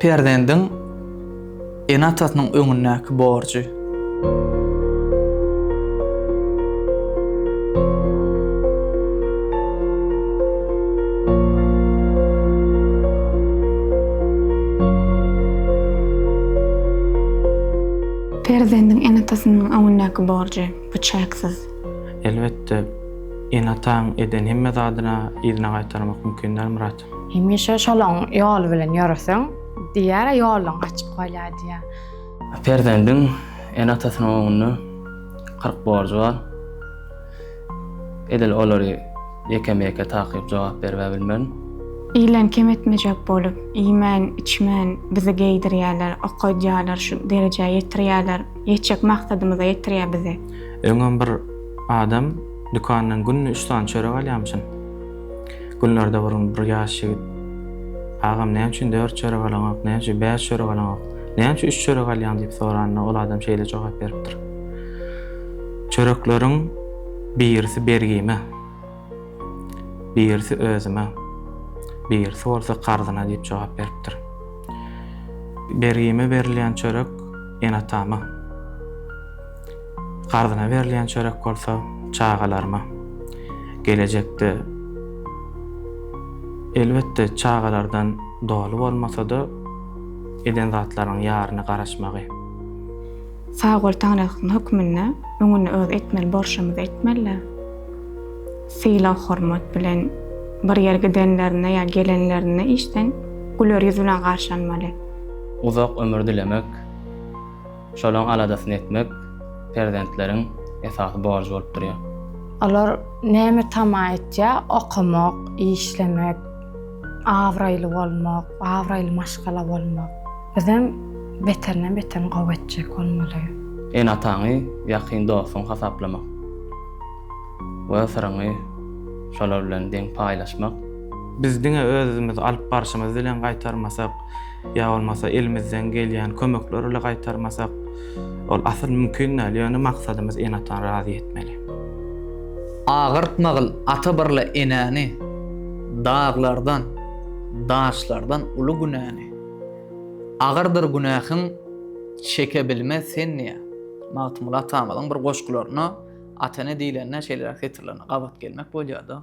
Perzendiň ene-atasynyň öňündäki borjy. Perzendiň ene-atasynyň öňündäki borjy. Bu çäksiz. Elbetde, ene-ataň eden hemme zadyna yzyna gaýtarmak mümkin däl, Myrat. Hemişe şolaň ýoly bilen ýöreseň, diýýär-ä, ýoluň açyk bolýar diýýär. Perzendiň ene-atasynyň öňünde kyrk borjy bar. Edil olary ýekeme-ýeke takyp jogap berib-ä bilmerin. Ilen kem etmejek bolup, iýmän, içmän bizi geýdirýärler, okaýdýarlar, şu derejä ýetirýärler. Ýetjek maksadymyza ýetirýär bizi. Öňem bir adam dükandan günde üç sany çörek alýamyşyn. Günlerde bir gün bir ýaş ýigit, Agam, näme üçin dört çörek alaňok, näme üçin bäş çörek alaňok, näme üçin üç çörek alýaň diýip soranda, ol adam şeýle jogap beripdir, Çörekleriň birisi bergime. Birisi özüme, birisi bolsa karzyna diýip jogap beripdir. Bergime berilýän çörek ene-atama, karzyna berilýän çörek bolsa çagalaryma. Gelejekde, elbetde, çagalardan doly bolmasa-da, eden zatlarynyň ýaryny garaşmagy. Sag bol taňryýalkasyn hökmünde öňüni öz etmeli borşumyzy etmelidä. Sylag hormat bilen bir ýere gidenlerinde ýa gelenlerinde işden güler ýüz bilen garşy almaly. Uzak ömür dilemek şolaň aladasyny etmek perzentleriň esasy borjy bolup durýar. Olar näme tama etýär okamak işlemek. Abraýly bolmak, abraýly maşgala bolmak bizem beterinden beterini gowy etjek bolmaly. Ene-ataňy ýakyn dostuň hasaplamak we syryňy şolar bilen deň paýlaşmak. Biz diňe özümiz alyp barşymyz bilen gaýtarmasak, ýa bolmasa elimizden gelýän kömekler ile gaýtarmasak, Ol asyl mümkin däl, ýöne maksadymyz ene-atany razy etmeli. Agyrtmagyl ata birle enäni, daglardan, daşlardan uly günäni. Agyrdyr günähiň, çeke bilmez sen niýe? Magtymguly atamyzyň bir goşgularynda ata-ene diýlende şeýleräk setirlerine gabat gelmek bolýar-da.